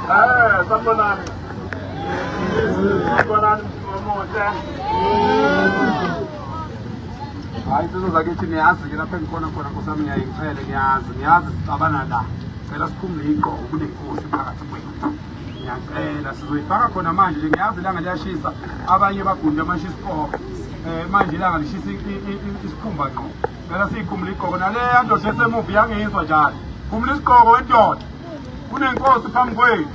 Eh, sanibonani. Sanibonani omuhle. Hayi sizo zakithi niyazi ke lapha engikhona khona Nkosi yami ngiyayichele niyazi niyazi sixabana la. Cela sikhumule igqoko kunenkosi phakathi kwethu. Ngiyacela sizoyifaka khona manje nje ngiyazi ilanga liyashisa abanye bagunde amashisa isiqoko. Eh manje ilanga lishisa isikhumba ngqo. Ngicela siyikhumbule igqoko naleya ndoda esemuva iyangizwa njalo. Khumbula isigqoko wendoda. Kunenkosi phambi kwenu.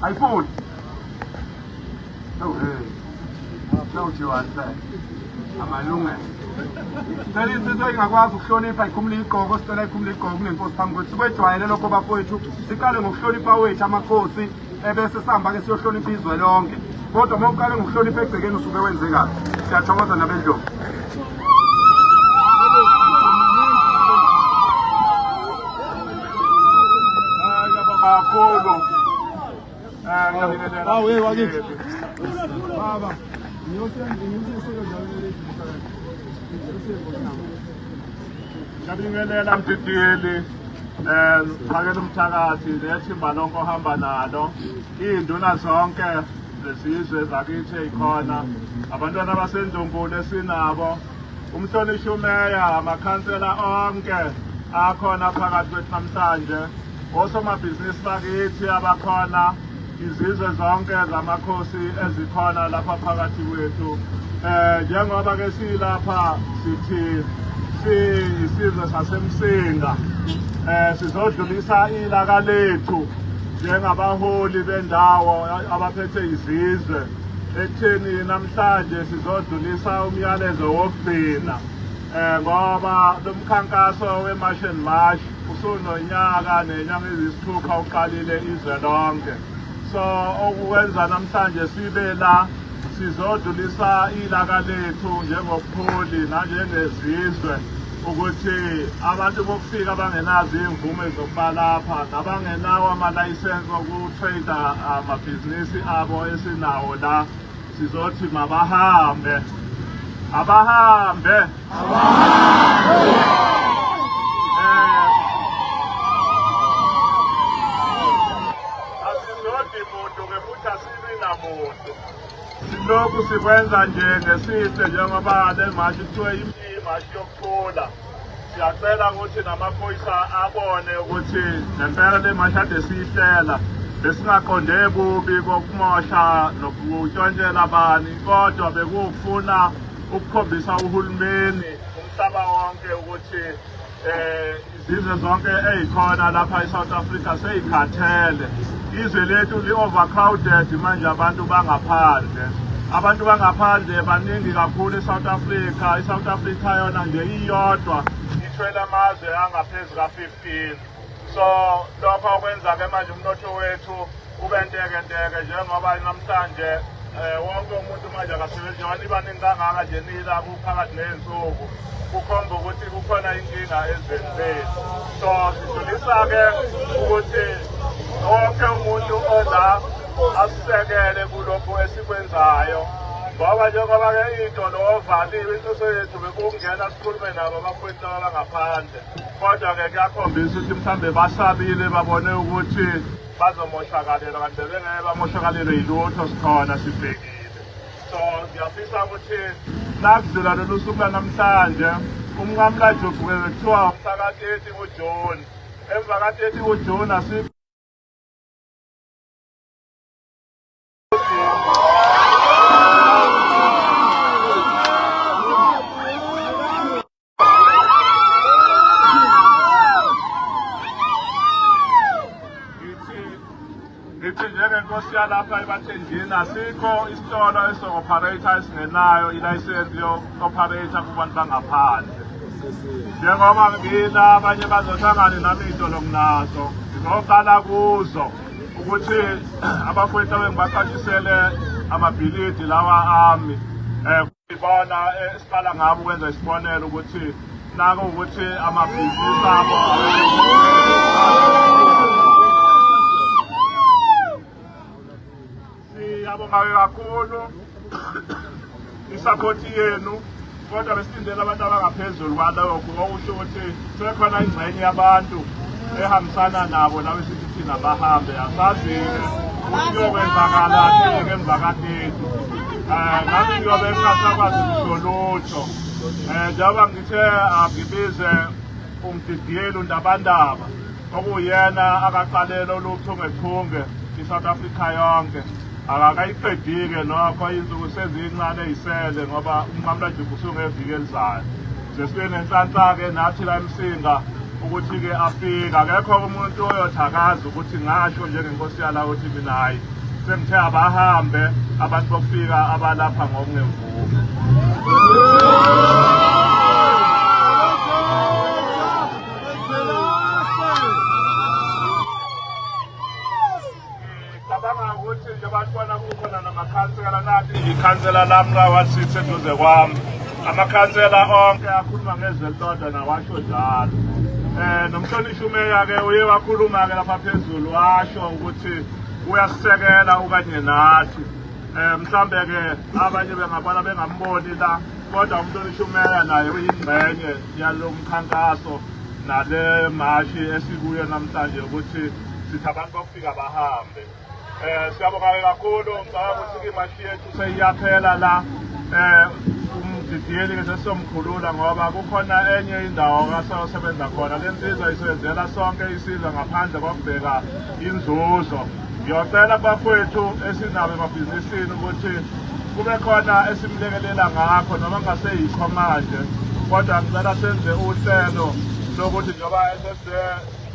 Ayifuni. Oh hey. Don't you understand? Amalungelo. Cela insizwa ingakwazi ukuhlonipha ikhumula igqoko sicela ikhumula igqoko kunenkosi phambi kwethu sikwejwayele lokho bafowethu siqale ngokuhlonipha wethu amakhosi ebese sihamba-ke siyohlonipha izwe lonke kodwa uma uqale ngokuhlonipha egcekeni usuke wenze kabi siyathokoza nabendlovu kakhulu awe wakithi baba ngiyosenzela ngiyosenzela ngiyosenzela Ngiyabingelela mdidiyeli um phakela umthakathi nethimba lonke ohamba nalo iy'nduna zonke zesizwe zakithi eyikhona abantwana basendlunkulu esinabo umhlonishwa umeya amakhansela onke akhona phakathi kwethu namhlanje Osomabhizinisi bakithi abakhona, izizwe zonke zamakhosi ezikhona lapha phakathi kwethu. Eh njengoba ke silapha sithi siyisizwe sasemsinga. Eh sizodlulisa ilaka lethu njengabaholi bendawo abaphethe izizwe. Ekutheni namhlanje sizodlulisa umyalezo wokugcina. Eh ngoba lomkhankaso weMarch and March usunonyaka nenyanga ezisithupha uqalile izwe lonke. So okwenza namhlanje sibe la sizodlulisa ilaka lethu njengobuholi nanjengezizwe ukuthi abantu bokufika bangenazo iy'mvume zokuba lapha nabangenawo amalayisensi okutrader amabhizinisi abo esinawo la Sizothi mabahambe. Abahambe. Abahambe. muntu silokhu sikwenza nje ngesihle njengoba le mashi kuthiwe imashi yokuthula Siyacela ukuthi namaphoyisa abone ukuthi ngempela le mashade siyihlela besingaqonde kubi kokumosha nokutshontshela abani kodwa bekuwukufuna ukukhombisa uhulumeni umhlaba wonke ukuthi um izizwe zonke ey'khona lapha e-south africa seyikhathele Izwe lethu li-overcrowded manje abantu bangaphandle abantu bangaphandle baningi kakhulu e-south africa i-south africa yona nje iyodwa ithwele amazwe angaphezu ka-15 so lokho okwenza-ke manje umnotho wethu ube ntekenteke njengoba namhlanje um wonke umuntu manje akasebenzi njengoba nibaningi kangaka nje nila phakathi ney'nsuku kukhomba ukuthi kukhona inkinga ezweni lethu so sidlulisa-ke ukuthi wonke umuntu oza asisekele kulokhu esikwenzayo ngoba njengoba-ke iy'tolo ovaliwe inhloso yethu bekungena sikhulume nabo abafowethu laba bangaphandle kodwa-ke kuyakhombisa ukuthi mhlawumbe basabile babone ukuthi bazomoshakalelwa kanti bebengeke bamoshakalelwe yilutho sikhona sibhekile so ngiyafisa ukuthi nakuzela lolu suku lanamhlanje umnqamlajugu kuthiwa mhlaka-30 kujuni emva ka-30 kujuni asi ngithi njengenkosi yalapha ebathenjini asikho isitolo eso-operator esingenayo ilayisensi yo-operator kubantu bangaphandle njengoba ngibila abanye bazohlangane nami iy'tolo nginazo ngizoqala kuzo ukuthi abafowethu abengibaqashisele amabhilidi lawa ami um Ibona eh, esiqala ngabo ukwenza isibonelo ukuthi nako ukuthi amabhizinisi abo siyabongayo kakhulu isaphothi yenu kodwa besilindele abantu abangaphezulu kwalokho okusho ukuthi Sekhona ingxenye yabantu ehambisana nabo lawe sithi thina bahambe asazile kuyokwenzakala ke emva kathethu um eh, ngathi kuyobe kungasakwazi kusho lutho um eh, njengoba ngithe angibize umdidiyeli undabandaba okuyena akaqalele oluchungechunge i-south africa yonke akakayiqedike nokho insuku seziyincane yisele ngoba umnqamulajuku usungeviki elizayo Sesibe nenhlanhla-ke nathi la eMsinga ukuthi-ke afike akekho umuntu oyothakaza ukuthi ngasho njengenkosi yala ukuthi mina hhayi sengithe abahambe abantu bokufika abalapha ngokungemvume Cabanga ukuthi nje bantwana kukhona namakhansela nathi ngikhansela lami rawasithe eduze kwami amakhansela onke akhuluma ngezelodwa nawasho njalo um nomhlonishwa umeya-ke uye wakhuluma-ke lapha phezulu washo ukuthi uyasisekela okanye nathi um mhlawumbe-ke abanye bengabona bengamboni la kodwa umhlonishwa umeya naye uyingxenye yalo mkhankaso nale mashi esikuyo namhlanje ukuthi sithi abantu fika bahambe eh siyabonga kakhulu ngicabanga ukuthi imashi yethu seyiyaphela la eh umdidiyeli ke sesomkhulula ngoba kukhona enye indawo kasayosebenza khona le nsizwa isebenzela sonke isizwe ngaphandle kokubheka inzuzo ngiyocela bafowethu esinabo emabhizinisini ukuthi kube khona esimlekelela ngakho noma ngaseyikho manje kodwa ngicela senze uhlelo lokuthi njengoba esese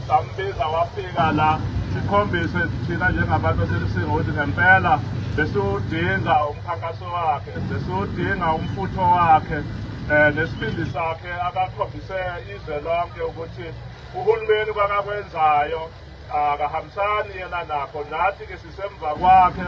Sambiza wafika la sikhombise thina njengabantu aselusinga ukuthi ngempela besiwudinga umkhankaso wakhe besiwudinga umfutho wakhe um nesibindi sakhe akakhombise izwe lonke ukuthi uhulumeni kwakakwenzayo akahambisani yena nakho nathi-ke sisemva kwakhe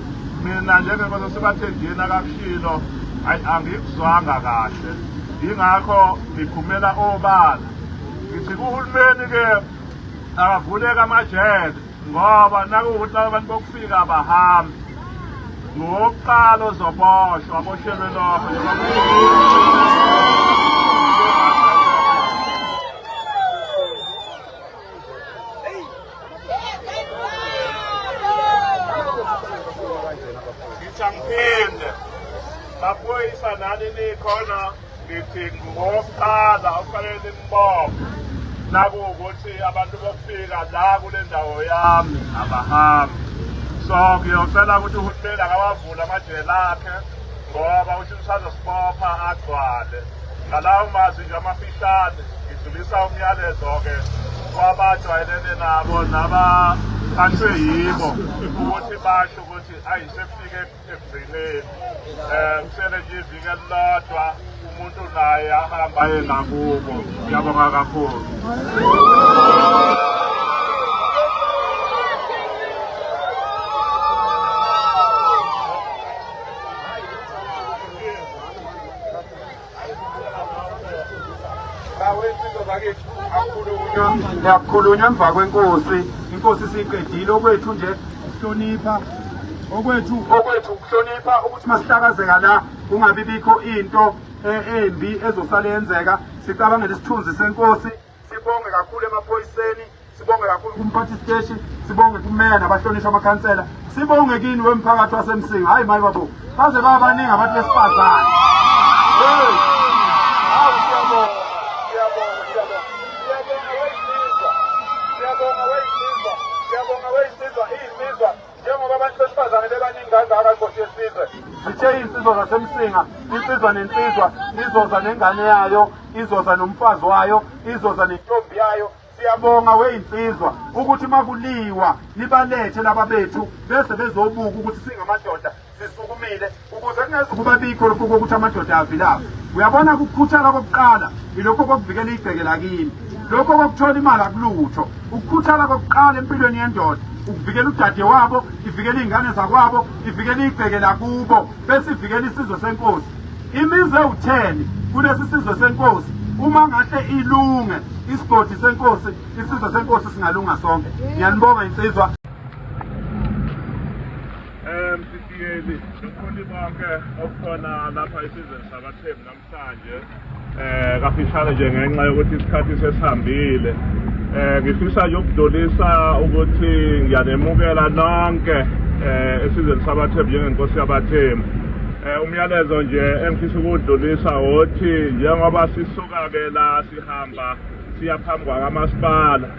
mina njengenkosi esibathenjini akakushilo ayi angikuzwanga kahle yingakho ngiphumela obala ngithi kuhulumeni-ke akavuleki amajele ngoba nakuwukuthi laba bantu bokufika abahambi ngowokuqala ozoboshwa aboshelwe lokho Ngithangiphinde baphoyisa nani nikhona ngithi ngowokuqala okufanele nimbophe nakuwukuthi abantu bokufika la kule ndawo yami abahambi so ngiyocela ukuthi uhulumeni akawavule amajele akhe ngoba uthi usazosibopha agcwale ngalawo mazwi nje amafihlane ngidlulisa umyalezo-ke kwabajwayelene nabo nabathathwe yibo ukuthi basho ukuthi ayi sefike ekugcineni um kusele nje iviki elilodwa umuntu naye ahamba ye ngakubo ngiyabonga kakhulu ngiyakukhulunywa emva kwenkosi inkosi siyiqedile okwethu nje ukuhlonipha okwethu okwethu ukuhlonipha ukuthi masihlakazeka la kungabi bikho into eh, embi ezosale yenzeka sicabangele isithunzi senkosi Sibonge kakhulu emaphoyiseni, sibonge kakhulu kumphathi steshi, sibonge kumeya nabahlonishwa amakhansela, sibonge kini wemphakathi waseMsinga. Hayi mayi babo, baze babaningi abantu besifazane. Hey! Hawu siyabonga, siyabonga, siyabonga. Siyabonga weyisizwa, siyabonga weyisizwa, siyabonga weyisizwa, iyisizwa. njengoba abantu besifazane bebaningi kangaka inkosi yesizwe zithe insizwa zasemsinga insizwa nensizwa izoza nengane yayo izoza nomfazi wayo izoza nentombi yayo siyabonga weyinsizwa ukuthi makuliwa nibalethe laba bethu bese bezobuka ukuthi singamadoda sisukumile ukuze kungezukuba bikho lokhu kokuthi amadoda avilaphe uyabona ukukhuthala kokuqala yilokho kokuvikela igceke lakini lokho kokuthola imali akulutho ukukhuthala kokuqala empilweni yendoda ukuvikela udade wabo ivikela iy'ngane zakwabo ivikela igceke lakubo bese ivikela isizwe senkosi imizi ewutheni kulesi sizwe senkosi uma ngahle ilunge isigodi senkosi isizwe senkosi singalunga sonke ngiyanibonga insizwa Msisiyeli, nomfundi bonke okukhona lapha isizweni sabathembu namhlanje um kafishane nje ngenxa yokuthi isikhathi sesihambile um ngifisa nje ukudlulisa ukuthi ngiyanemukela nonke um esizweni sabathembu njengenkosi yabathembu um umyalezo nje engifisa ukuwudlulisa wothi njengoba sisuka-ke la sihamba siya phambi kwakamasipala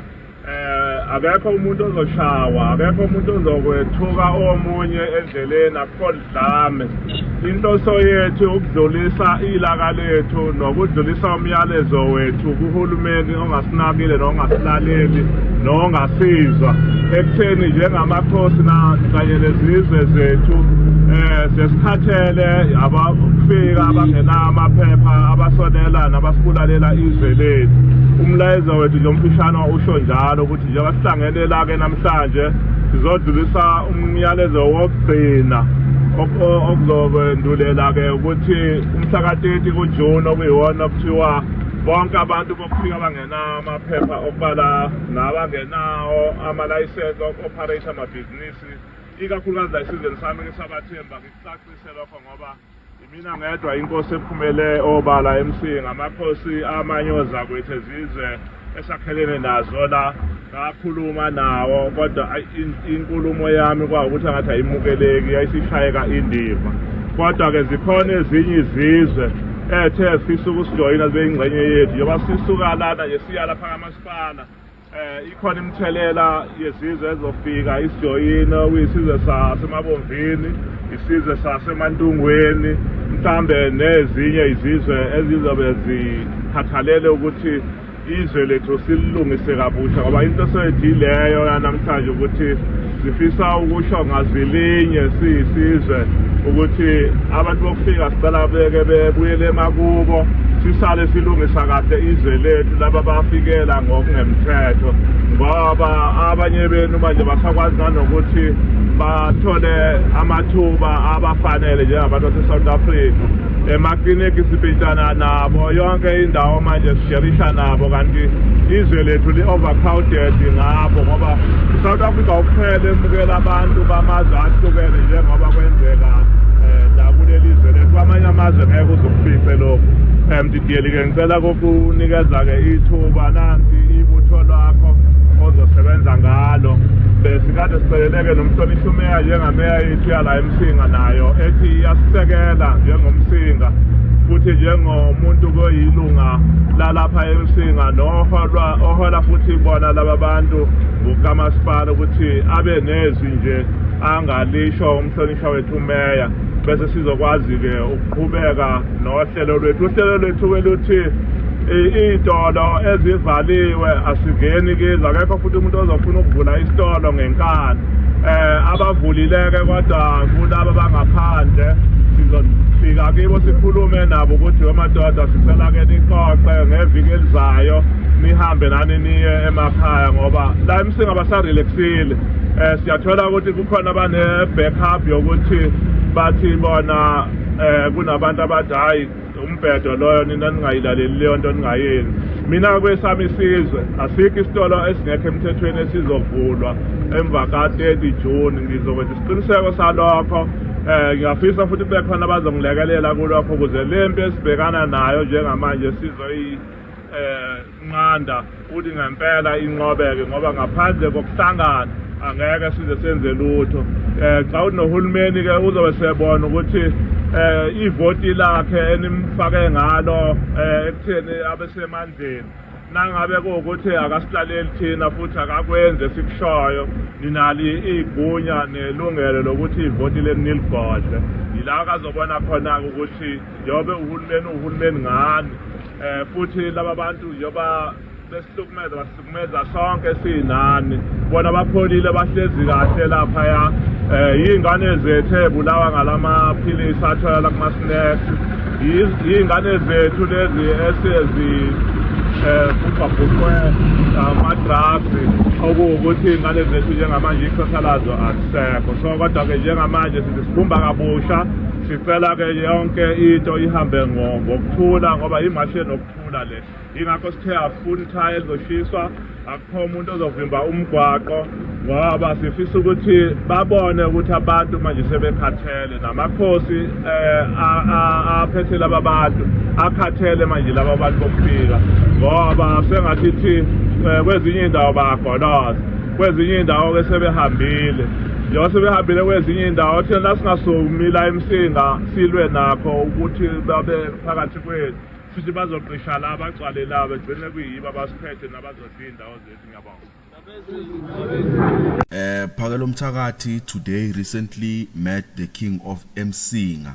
Eh akekho umuntu ozoshawa, akekho umuntu ozokwethuka omunye endleleni akukho dlame. Inhloso yethu ukudlulisa ilaka lethu nokudlulisa umyalezo wethu kuhulumeni ongasinakile nongasilaleli nongasizwa ekutheni njengamakhosi kanye nezizwe zethu eh sesikhathele abafika abangenamaphepha abasonela nabasibulalela izwe lethu umlayezo Wethu nje umfishana usho njalo ukuthi njengoba sihlangene la-ke namhlanje sizodlulisa umyalezo wokugcina okuzokwendulela-ke ukuthi umhlakateti kujuni okuyiwona kuthiwa bonke abantu bokufika abangenawo amaphepha okubala nabangenawo amalayisensi oku-operate amabhizinisi ikakhulukazi la esizweni sami ngisabathemba ngikucacise lokho ngoba Yimina ngedwa inkosi ephumele obala emsinga amakhosi amanyoza kwethu ezizwe esakhelene nazo la ngakhuluma nawo kodwa inkulumo yami kwawukuthi angathi ayimukeleki yayisishayeka indiva kodwa-ke zikhona ezinye izizwe ethe fisa ukusijoyina zibe yingxenye yethu njengoba sisuka lana nje siya lapha kamasipala Eh ikhona imithelela yesizwe ezofika isijoyina kuyisizwe sasemabomvini isizwe sasemantungweni mhlambe nezinye izizwe ezizobe zikhathalele ukuthi izwe lethu sililungise kabusha ngoba into eseyithi leyo yanamhlanje ukuthi Sifisa ukusho ngazilinye siyisizwe ukuthi abantu bokufika sicela beke bebuyele emakubo sisale silungisa kahle izwe lethu laba bafikela ngokungemthetho ngoba abanye benu manje basakwazi nanokuthi bathole amathuba abafanele njengabantu base-south africa emakliniki sipitshana nabo yonke indawo manje sisherisha nabo kanti izwe lethu li-overcrowded ngabo ngoba i-south africa kuphela emukela abantu bamazwe ahlukene njengoba kwenzeka um nakuleli zwe lethu kwamanye amazwe ngeke uzokufice lokhu um didiyeli-ke ngicela kokunikeza-ke ithuba nansi ibutho lwakho ozosebenza ngalo besikade siceleleke nomhlonishwa umeya njengameya yethu yala Msinga nayo ethi iyasisekela njengomsinga futhi njengomuntu koyilunga lalapha emsinga noholwa ohola futhi bona laba bantu ukamasipala ukuthi abe nezwi nje angalisho umhlonishwa wethu umeya bese sizokwazi-ke ukuqhubeka nohlelo lwethu uhlelo lwethu weluthi iy'tolo ezivaliwe asingeni kizo akekho futhi umuntu ozofuna ukuvula isitolo ngenkani um abavulileke kodwa kulaba bangaphandle sizofika kibo sikhulume nabo ukuthi wemadoda sicela ke nixoxe ngeviki elizayo nihambe nani niye emakhaya ngoba la emsinga basarelaxile um siyathola ukuthi kukhona bane-backup yokuthi bathi bona eh kunabantu abathi hayi umbhedo loyo nina ningayilaleli leyo nto ningayenzi mina kwesami isizwe asikho isitolo esingekho emthethweni esizovulwa emva ka-30 june ngizokwenza isiqiniseko salokho um ngiyafisa futhi kube khona abazongilekelela kulokho ukuze le mpi esibhekana nayo njengamanje sizoyi um Nqanda uthi ngempela inqobeke ngoba ngaphandle kokuhlangana angeke size senze lutho eh xa unohulumeni ke uzobe sebona ukuthi eh ivoti lakhe enimfake ngalo eh ekutheni abesemandleni nangabe kuwukuthi akasilaleli thina futhi akakwenzi esikushoyo ninali iy'gunya nelungelo lokuthi ivoti leni niligodle yila kazobona khona-ke ukuthi njengoba uhulumeni uhulumeni ngani um futhi laba bantu njengoba besihlukumeza basihlukumeza sonke sinani bona bapholile bahlezi kahle laphaya um yiy'ngane zethu ebulawa ngala maphilisi atholala kuma-snacks yiy'ngane zethu lezi esezi um kubhabhuqwe ama-drugs okuwukuthi iy'ngane zethu njengamanje ikusasa lazo azisekho so kodwa-ke njengamanje sithi sibumba kabusha Sicela ke yonke into ihambe ngokuthula ngoba imashi enokuthula le yingakho sithe asifuni ithaya elizoshiswa akukho umuntu ozovimba umgwaqo ngoba sifisa ukuthi babone ukuthi abantu manje sebekhathele namakhosi um aphethe laba bantu akhathele manje laba bantu bokufika ngoba sengathi thi um kwezinye iy'ndawo bayagoloza kwezinye iy'ndawo-ke sebehambile njengoba sebehambile kwezinye indawo thina singasomila emsinga silwe nakho ukuthi babe phakathi kwethu futhi bazoqisha la bagcwale la begcine kuyibo abasiphethe nabazodla iy'ndawo zethu ngiyabonga Eh Phakelo Mthakathi today recently met the king of Msinga